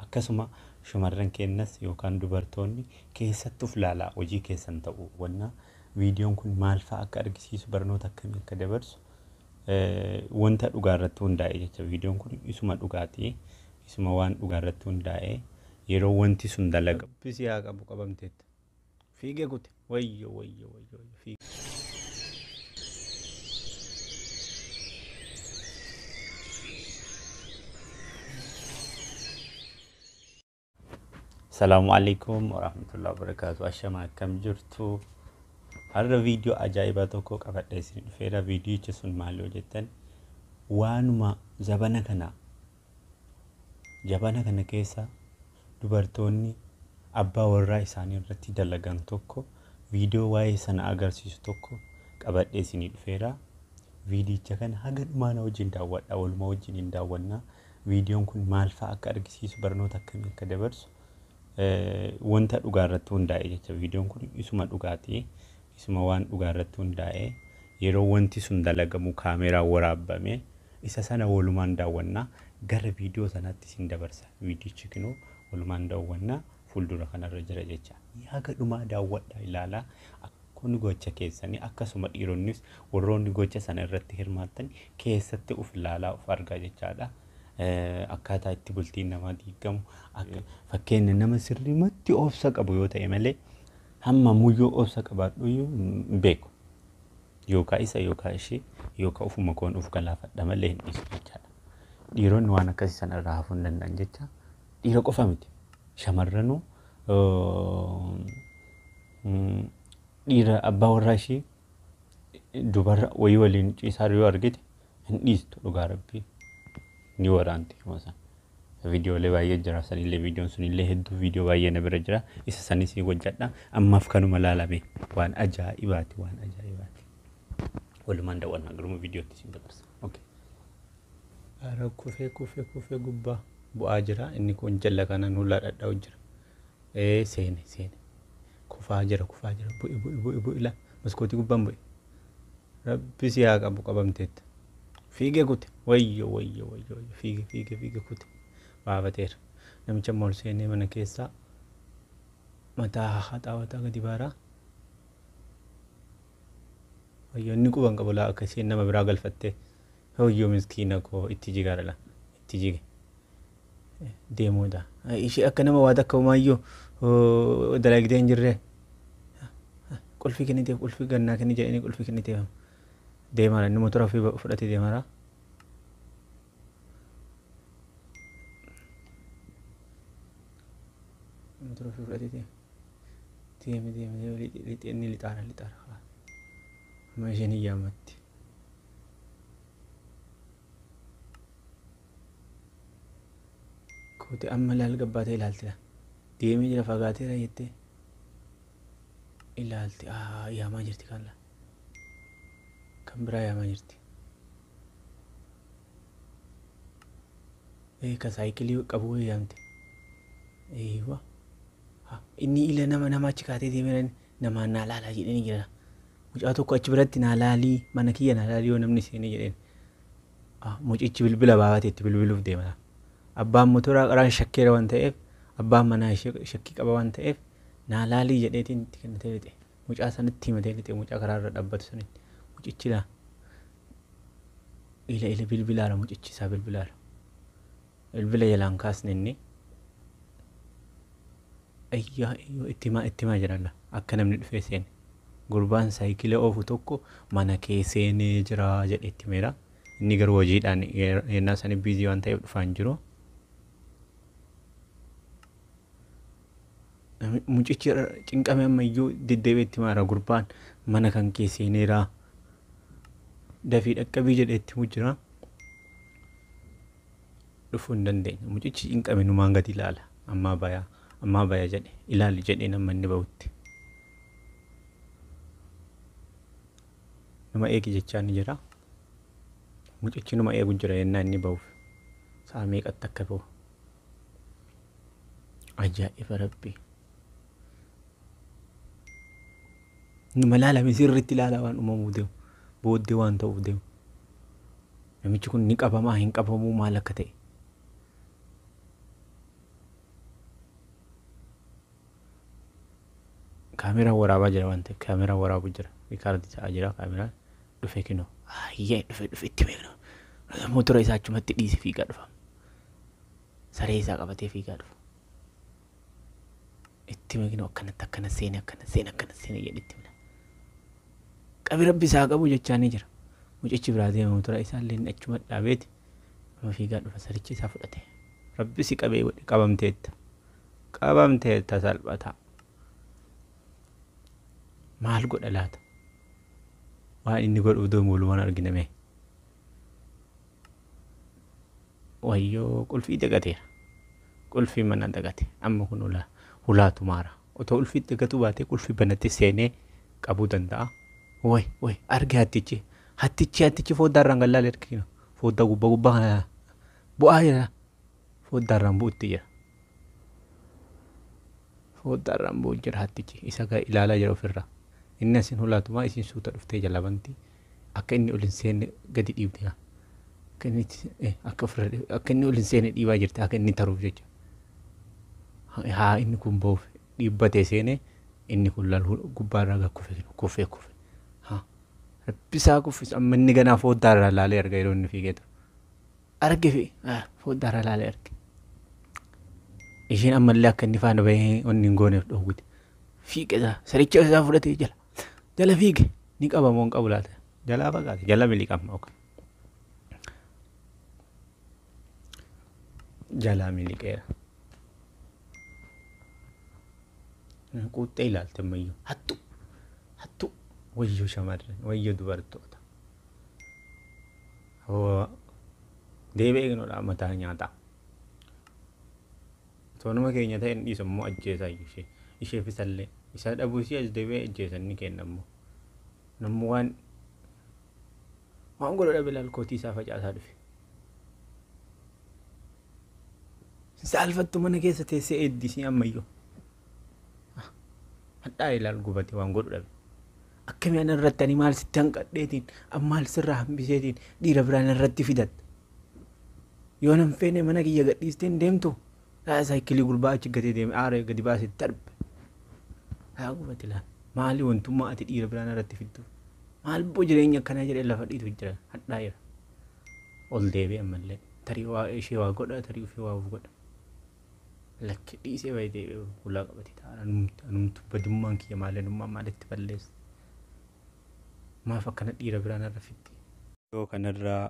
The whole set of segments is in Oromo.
Akkasuma shamarran keennas yookaan dubartoonni keessatti uf laalaa hojii keessan ta'uu hubannaa viidiyoon kun maal fa'a akka argisiisu barnoota akkamii akka dabarsu wanta dhugaa irratti hundaa'e jecha viidiyoon kun isuma dhugaati isuma waan dhugaa irratti hundaa'e yeroo wanti sun dalaga. Rabbi si haa qabu qabamteetta. Fiigee kute. Wayyo wayyo wayyo wayyo fiigee. Salaamu alaikum warahmatullahi wabarakatuh. Ashama akkam jirtu? Har'a viidiyoo ajaa'ibaa tokko qabadhee isin dhufeera. Viidiyichi sun maal yoo jettan waanuma zabana kana Jabana kana keessa dubartoonni abbaa warraa isaanii irratti dalagan tokko viidiyoo waa'ee sana agarsiisu tokko qabadhee isinii dhufeera. Viidiyicha kana haga dhumaa na wajjin daawwadha. Waluma wajjin hin daawwanna. Viidiyoon kun maal fa'a akka argisiisu barnoota akkamii akka dabarsu eh, wanta dhugaa irratti hundaa'e jecha viidiyoon kun isuma dhugaati. Isuma waan dhugaa irratti hundaa'e yeroo wanti sun dalagamu kaameeraan waraabbame isa sana walumaan daawwanna. Gara viidiyoo sanaatti isin dabarsa. Viidiyichi kinoo walumaan daawwanna fuuldura kanarra jira jecha. Haga dhumaa daawwadhaa ilaalaa kun gocha keessanii akkasuma dhiironnis warroonni gocha sana irratti hirmaattan keessatti of ilaalaa of argaa jechaadha. Akkaataa itti bultiin namaa diigamu fakkeenya nama sirrimatti obsa qabu yoo ta'e malee Hamma muyyuu obsa qabaadhuyyuu hin beeku. Yookaa isa yookaa ishee yookaa ofuma koon of galaafadha malee hin dhiisu jechaadha. Dhiironni waan akkasii sana irraa hafuu hin danda'an jecha dhiira qofa miti. Shamarranuu dhiira abbaa warraa ishii dubarra wayii waliin ciisaa jiru yoo argite hin dhiistu dhugaa rabbii ni waraanti yeruma san viidiyoolee baay'ee jira sanillee viidiyoon sunillee hedduu viidiyoo baay'ee na bira jira isa sanis ni hojjadha ammaaf kanuma laalame waan ajaa'ibaati waan ajaa'ibaati walumaan daawwannaa garuma viidiyootti isin dabarsa okay. Ara kufee kufee kufee gubbaa bu'aa jira inni kun jalla kanaan hulaa dhadha'u jira. Ee seene seene. Kufaa jira kufaa jira. Bu'i bu'i bu'i bu'i la maskootii gubbaan bu'i. Rabbi si haa qabu qabamteetta. Fiige kute wayyo wayyo wayyo wayyo fiige fiige fiige kute baafateera. Namicha immoo ol seenee mana keessaa mataa haxaawataa gadi baaraa. Wayyoo inni quba hin qabu laa akka isheen nama biraa galfattee wayyoo miskiina koo itti jigaadha laa itti jige deemuudha ishee akka nama waa takka umaayyuu dalagdee hin jirree qulfii kenniteef qulfii gannaa kenni jedhanii qulfii kenniteef deemaara inni motora ofii fudhatee deemaara. Motora ofii fudhatee deema. deeme deeme deeme lixe lixe inni lixaara lixaara haa amma isheen hin yaamatti koote amma ilaal gabbaatee ilaaltira deemee jira fagaateera jettee ilaalti aa yaamaa jirti kan laa kan biraa yaamaa jirti ee ka saayikilii qabu wayii yaamte eeywa Ha, inni ila nama nama achi kaatee deemeerani namaan naa laalaa jedheenii jedhana. Mucaa tokko achi biratti naa laalii mana kiyya naa laalii yoo namni seenee jedheen. Ha, mucichi bilbila baafate itti bilbiluuf deemana. Abbaan motoraa qaraan shakkeera waan ta'eef abbaan manaa ishee shakkii qaba waan ta'eef naa laalii jedheetiin itti kennatee lixe. Mucaa sanitti himatee lixe mucaa karaa irra dhabbatu saniin. Mucichi laa ila ila bilbilaara mucichi isaa bilbilaara. Bilbila jalaa hin kaasne inni. Ayyaa iyyoo itti himaa itti himaa jira la akka namni dhufee seene. Gurbaan saayikila oofu tokko mana kee seenee jira jedhe itti himeera. Inni garuu hojiidhaan yer- yennaa sanii biizii waan ta'eef dhufaa hin jiru. Nami- Mucichi irra cinqame amma iyyuu deddeebi'ee itti himaa jira. Gurbaan mana kan kee seeneera. Dafii dhaqqabii jedhee itti himu jira. dhufu hin dandeenye mucichi cinqame numaan gadi ilaala ammaa baya ammaa baya jedhe ilaali jedhee nama inni bahutti nama eegi jechaa ni jira mucichi nama eegu jira yennaa inni bahuuf sa'a meeqatti akka bahu ajaa'iba rabbii numa ilaalame sirriitti ilaala waan uumamuu deemu booddee waan ta'uuf deemu Namichi kun ni qabamaa hin qabamuu maal akka ta'e. Kaameraan waraabaa jira waan ta'eef kaameraan waraabu jira rikaardi ta'aa jira kaameraan dhufe kinoo ayyee dhufe dhufe itti beeknu mootora isaa achumatti dhiise fiigaa dhufa saree isaa qabatee fiigaa dhufa. itti hime kinoo akkanatti akkana seene akkana seene akkana seene jedhe itti himna. Qabi rabbi isaa haa qabu jechaa ni jira. Mucichi biraa deemamu tura isaallee inni achuma dhaabeeti kunoo fiigaa dhufa sarichi isaa fudhate. Rabbi si qabee godhe qabamteetta. Qabamteetta salphataa. Maal godha laata? Waan inni godhuuf deemu walumaan argina mee. Wayyoo qulfii dagateera. Qulfii manaa dagate amma kun hulaa hulaa tumaara otoo ulfii dagatuu baatee qulfii banatti seenee qabuu danda'a way way arge hattichi hattichi hattichi fooddaa irraan gallaale erkiina fooddaa gubbaa gubbaa kana bu'aa jira fooddaa irraan bu'utti jira fooddaa irraan bu'u jira hattichi isa gaa ilaalaa jira ofirraa inni asin hulaa tumaa isin suuta dhuftee jalabanti akka inni ol hin seenne gadi dhiibdi haa. Akka inni itti- eh, akka ofirra dhib- akka inni ol hin seenne dhiibaa jirti akka inni taruuf jecha. Ha- Haa inni kun ba'uuf dhiibbatee seene inni kun laal hu- gubbaarraa gad kufe kun kufee kufe. Haa rabbisaa kuffisu amma inni ganaa fooddaarraa laalee arga yeroo inni fiigee ture. Arge fi ah, fooddaarraa laalee arge. Isheen ammallee akka inni faana bahee onni hin gooneef dhoowwite. Fiigee isaa saricha isaa fudhatee jala. Jala fiige ni qaba moo hin qabu laata? Jalaa fagaate jala miliqama. ok. Jalaa miliqeera. Quuxxee ilaalte ammayyuu hattuu hattuu wayyoo shamarran wayyoo dubartoota. Hoo deebi'ee eegnoodha mataa nyaataa. Osoo nama keenya ta'e hin dhiisu ammoo ajjeesaa iyyuu ishee. Isheef isallee. Isa dhabuu isii as deebi'ee ajjeesa inni keenna ammoo. Namni waan waan godhu dhabe laal kootii isaa facaasaa dhufe. Hin saalfattu mana keessa teessee eeddi isii ammayyuu. Hadhaa ilaal gubate waan godhu dhabe. Akkamii ana irratti ani maal sitti hanqadheetiin an maal sirraa hambiseetiin dhiira biraan irratti fidatta. Yoo nan feene mana kiyya gadhiistee hin deemtu. Yaa saayikilii gurbaa achi gatee deeme aaree gadi baasee darbe. Yaa gubate laa maali wantummaa ati dhiira biraan irratti fiddu. Maal boo jireenya akkanaa jedhee lafa dhiitu jira hadhaa jira. Ol deebi'e ammallee tarii waa ishee waa godha tarii ofii waa of godha. Lakki dhiisee baay'ee deebi'e hulaa qabate ta'a anumtu anumtu badummaan kiyya maali anummaan maalitti balleessa. Maaf akkana dhiira biraan irra fiddi. Yoo kanarraa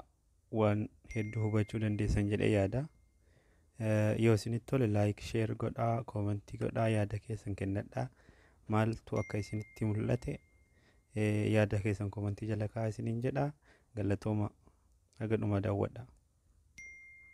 waan hedduu hubachuu dandeessan jedhee yaada. Yoo isinitti tole laayik sheer godhaa koomentii godhaa yaada keessan kennadhaa maaltu akka isinitti mul'ate yaada keessan koomentii jala kaa'aa isiniin jedha galatooma haga dhumaa daawwadha.